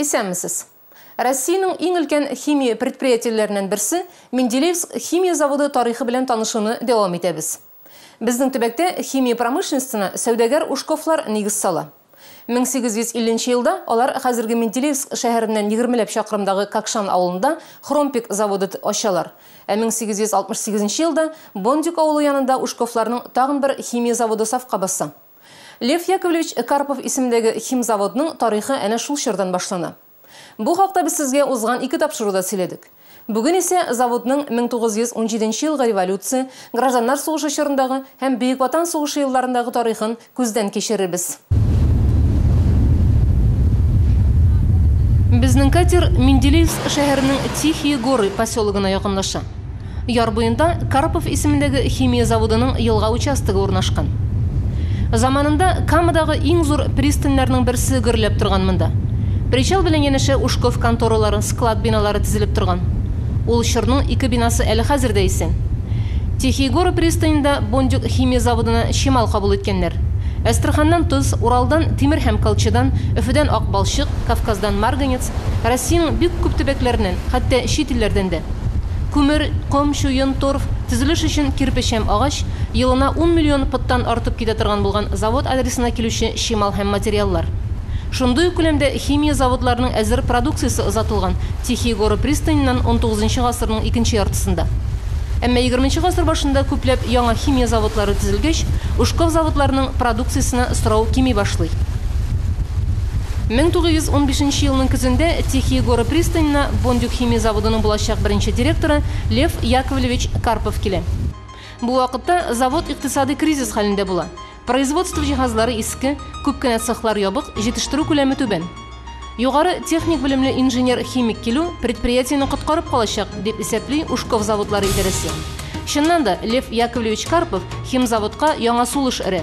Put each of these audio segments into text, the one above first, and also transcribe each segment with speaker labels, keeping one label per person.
Speaker 1: Исәнмесез. Россиянең иң өлкән химия предприятиеләреннән берсе Менделеевск химия заводы тарихы белән танышуны дәвам итәбез. Безнең төбәктә химия промышленностена сәүдәгәр Ушковлар нигез сала. 1850 нче елда алар хәзерге Менделеевск шәһәреннән егермеләп чакрымдагы Какшан авылында Хромпек заводы ачалар, ә 1868 нче елда Бондюг авылы янында Ушковларның тагын бер химия заводы сафка баса. Лев Яковлевич Карпов исемендәге химзаводның тарихы әнә шул чордан башлана. Бу хакта без сезгә узган ике тапшыруда сөйләдек. Бүген исә заводның 1917 нче елгы революция, гражданнар сугышы чорындагы һәм Бөек Ватан сугышы елларындагы тарихын күздән кичерербез. Безнең катер Менделеевск шәһәренең Тихие Горы поселогына якынлаша. Яр буенда Карпов исемендәге химия заводының елга участогы урнашкан. Заманында Камадагы иң зур пристаньнарның берсе гөрләп торган монда. Причал белән янәшә Ушков конторалары, склад биналары тезелеп торган. Ул чорның ике бинасы әле хәзер дә исән. Тихие горы пристаненда Бондюг химия заводына чимал кабул иткәннәр. Әстерханнан тоз, Уралдан, тимер һәм колчыдан, Өфедән ак балчык, Кавказдан марганец, Россиянең бик күп төбәкләреннән, хәтта чит илләрдән дә. Күмер, ком, чуен, торф, төзелеш өчен кирпеч һәм агач, елына ун миллион пыттан артып китә торган булган завод адресына килүче чимал һәм материаллар. Шундый ук күләмдә химия заводларының әзер продукциясе озатылган Тихие горы пристаненнан унтугызынчы гасырның икенче яртысында. Әмма егерменче гасыр башында күпләп яңа химия заводлары төзелгәч, Ушков заводларының продукциясенә сорау кими башлый. Мең тугыз йөз унбишенче елның көзендә Тихие горы пристанена Бондюг Химия заводының булачак беренче директоры Лев Яковлевич Карпов килә. Бу вакытта завод икътисадый кризис хәлендә була. Производство җиһазлары иске, күп кенә цехлар ябык, җитештерү күләме түбән. Югары техник белемле инженер-химик килү предприятиене коткарып калачак, дип исәпли Ушков заводлары идарәсе. Чыннан да, Лев Яковлевич Карпов химзаводка яңа сулыш өрә.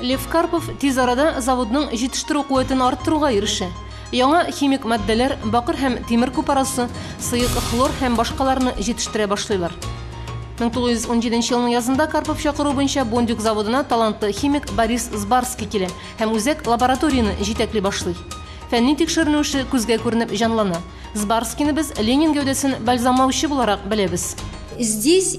Speaker 1: Лев Карпов тиз арада заводның җитештерү куәтен арттыруга ирешә. Яңа химик матдәләр, бакыр һәм тимер купарасы, сыек хлор һәм башкаларны җитештерә башлыйлар. 1917 елның язында Карпов чакыруы буенча Бондюг заводына талантлы химик Борис Збарский килә һәм үзәк лабораторияне җитәкли башлый. Фәнни тикшеренү эше күзгә күренеп җанлана. Збарскийны без Ленин гәүдәсен бальзамлаучы буларак беләбез. Здесь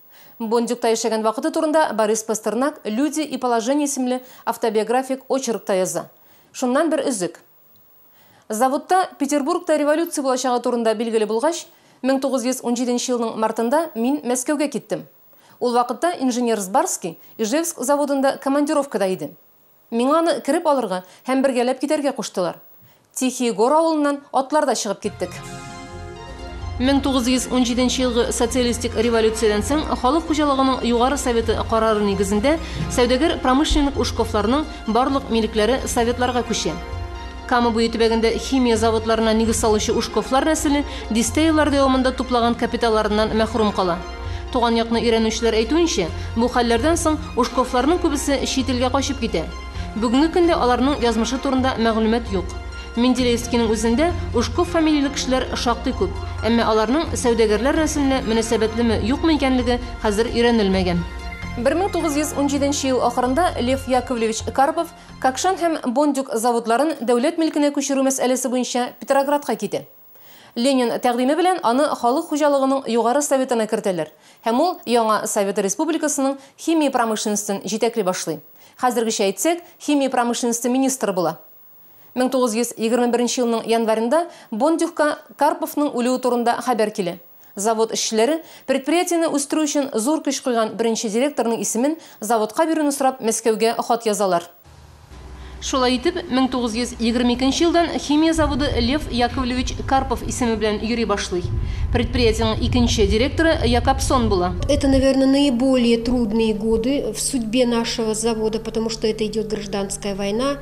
Speaker 1: Бондюгта яшәгән вакыты турында Борис Пастернак Люди и положение исемле автобиографик очеркта яза. Шуннан бер өзек. Заводта Петербургта революция булачагы турында билгеле булгач, 1917 нче елның мартында мин Мәскәүгә киттем. Ул вакытта инженер Сбарский Ижевск заводында командировкада иде. Миңа аны кереп алырга һәм бергәләп китәргә куштылар. Тихие Гор авылыннан атларда чыгып киттек. 1917 елгы социалистик революциядән соң халык хуҗалыгының Югары Советы карары нигезендә сәүдәгәр-промышленник Ушковларның барлык милекләре Советларга күчә. Кама буе төбәгендә химия заводларына нигез салучы Ушковлар нәселе дистәеллар дәвамында туплаган капиталларыннан мәхрүм кала. Туган якны өйрәнүчеләр әйтүенчә, бу хәлләрдән соң Ушковларның күбесе чит илгә качып китә. Бүгенге көндә аларның язмышы турында мәгълүмат юк. Менделеевскиның үзендә Ушков фамилияле кешеләр шактый күп, әмма аларның сәүдәгәрләр нәселенә мөнәсәбәтлеме, юкмы икәнлеге хәзер өйрәнелмәгән. Бер мең тугыз йөз унҗиденче ел ахырында Лев Яковлевич Карпов Какшан һәм Бондюг заводларын дәүләт милкенә күчерү мәсьәләсе буенча Петроградка китә. Ленин тәкъдиме белән аны Халык хуҗалыгының Югары Советына кертәләр һәм ул яңа Совет Республикасының химия промышленностен җитәкли башлый, хәзергечә әйтсәк, химия промышленности министры була. 1921 елның январенда Бондюгка Карповның үлүе турында хәбәр килә. Завод эшчеләре, предприятиене үстерү өчен зур көч куйган беренче директорның исемен заводка бирүне сорап Мәскәүгә хат язалар. Шулай итеп, 1922 нче елдан химия заводы Лев Яковлевич Карпов исеме белән йөри башлый. Предприятиенең икенче директоры Якобсон була. Это, наверное, наиболее трудные годы в судьбе нашего завода, потому что это идет гражданская война,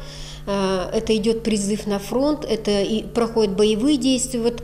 Speaker 1: это идет призыв на фронт, это проходят боевые действия. Вот.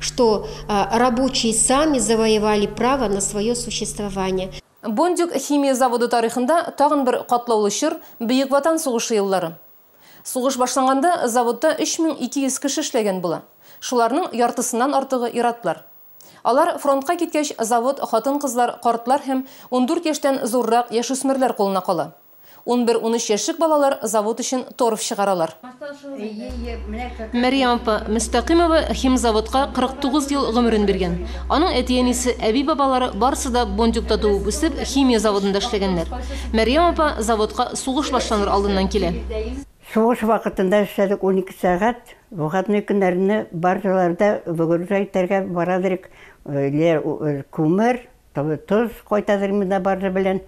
Speaker 1: что рабочие сами завоевали право на свое существование. Бондюг химия заводы тарихында тагын бер катлаулы чор, Бөек Ватан сугышы еллары. Сугыш башланганда заводта 3200 кеше эшләгән була. Шуларның яртысыннан артыгы ир-атлар. Алар фронтка киткәч, завод хатын-кызлар, картлар һәм ундүрт яшьтән зуррак яшүсмерләр кулына кала. Унбер-унөч яшьлек балалар завод өчен торф чыгаралар. Мәрьям апа Мөстәкыймова химзаводка 49 ел гомерен биргән. Аның әти-әнисе, әби-бабалары барысы да Бондюгта туып-үсеп, химия заводында эшләгәннәр. Мәрьям апа заводка сугыш башланыр алдыннан килә. Сугыш вакытында эшләдек унике сәгать, выходной көннәрне баржаларда выгружать итәргә барадырек, күмер, Тоз кайтарырмын да барысы белән.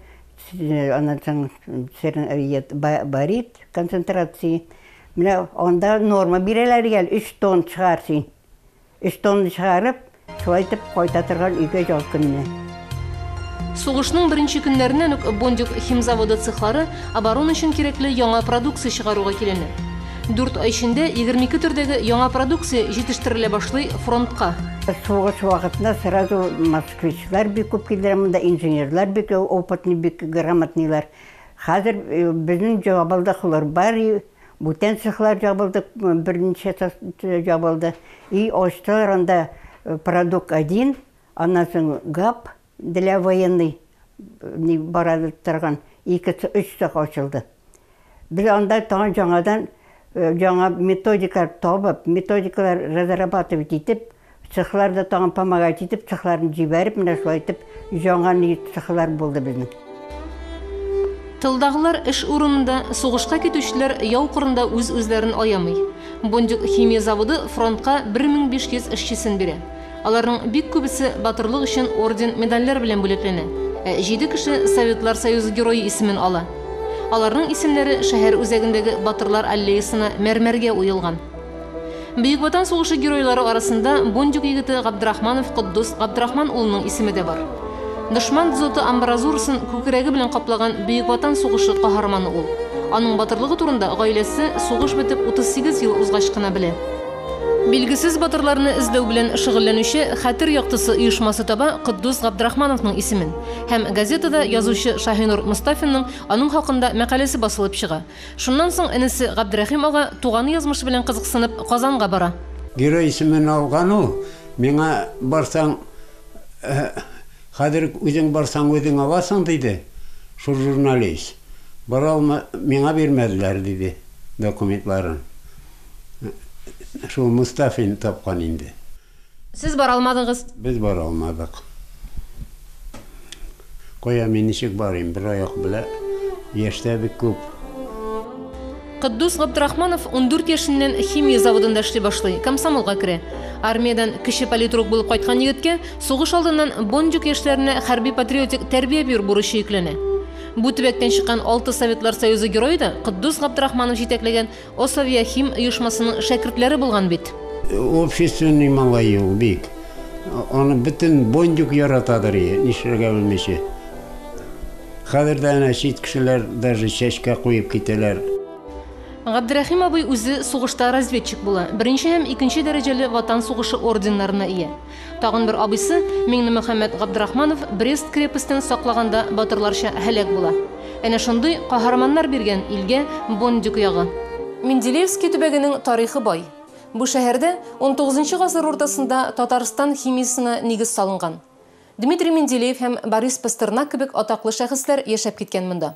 Speaker 1: Аннан соң барит концентрация. Менә анда норма бирәләр гел, өч тонн чыгар син. Өч тонн чыгарып, шулай итеп кайта торган өйгә ял көнне. Сугышның беренче көннәреннән үк Бондюг химзаводы цехлары оборона өчен кирәкле яңа продукция чыгаруга киленә. Дүрт ай эчендә 22 төрдәге яңа продукция җитештерелә башлый фронтка. Сугыш вакытында сразу москвичлар бик күп килделәр монда, инженерлар бик опытный, бик грамотныйлар. Хәзер безнең җабылды хлорбарий, бүтән цехлар җабылды, берничә җабылды. И ачтылар анда продукт один, аннан соң гап. Для военный ни бара торган ике, өч цех ачылды. Без анда тагын җаңадан җаңа методикалар табып, методикалар разрабатывать итеп, цехлар да тагын помогать итеп, цехларны җибәреп, менә шулай итеп, җаңа ни цехлар булды безнең. Тылдагылар эш урынында, сугышка китүчеләр яу кырында үз-үзләрен аямый. Бондюг химия заводы фронтка 1500 эшчесен бирә. Аларның бик күбесе батырлык өчен орден-медальләр белән бүләкләнә, ә җиде кеше Советлар Союзы Герое исемен ала. Аларның исемнәре шәһәр үзәгендәге Батырлар аллеясына мәрмәргә уелган. Бөек Ватан сугышы геройлары арасында Бондюг егете Габдрахманов Котдус Габдрахман улының исеме дә бар. Дошман дзоты амбразурасын күкрәге белән каплаган Бөек Ватан сугышы каһарманы ул. Аның батырлыгы турында гаиләсе сугыш бетеп 38 ел узгач кына белә. Билгесез батырларны эзләү белән шөгыльләнүче Хәтер яктысы оешмасы таба Котдус Габдрахмановның исемен һәм газетада язучы Шаһинур Мостафинның аның хакында мәкаләсе басылып чыга, Шуннан соң энесе Габдрәхим ага, туганы язмышы белән кызыксынып, Казанга бара. Герой исемен алган ул, миңа барсаң, хәзер үк үзең барсаң үзең аласың, диде. Шул журналист. Бара алмы, миңа бирмәделәр, диде документларын. Шул Мостафин тапкан инде. Сез бара алмадыгыз. Без бара алмадык. Кая мин ничек барыйм, бер аяк белә, яшь тә бик күп. Котдус Габдрахманов ундүрт яшеннән химия заводында эшли башлый, комсомолга керә. Армиядән кече политрук булып кайткан егеткә сугыш алдыннан Бондюг яшьләренә хәрби-патриотик тәрбия бирү бурычы йөкләнә. Бу төбәктән чыккан алты Советлар Союзы герое да Котдус Габдрахманов җитәкләгән Осавиахим оешмасының шәкертләре булган бит. Общественный малай ул бик. Аны бөтен Бондюг яратадыр, и, нишләргә белмичә. Хәзер дә әнә чит кешеләр даже чәчкә куеп китәләр. Габдерәхим абый үзе сугышта разведчик була, беренче һәм икенче дәрәҗәле Ватан сугышы орденнарына ия. Тагын бер абыйсы Миңнемөхәммәт Габдрахманов Брест крепостен саклаганда батырларча һәлак була. Әнә шундый каһарманнар биргән илгә Бондюг ягы. Менделеевский төбәгенең тарихы бай. Бу шәһәрдә унтугызынчы гасыр уртасында Татарстан химиясенә нигез салынган. Дмитрий Менделеев һәм Борис Пастернак кебек атаклы шәхесләр яшәп киткән монда.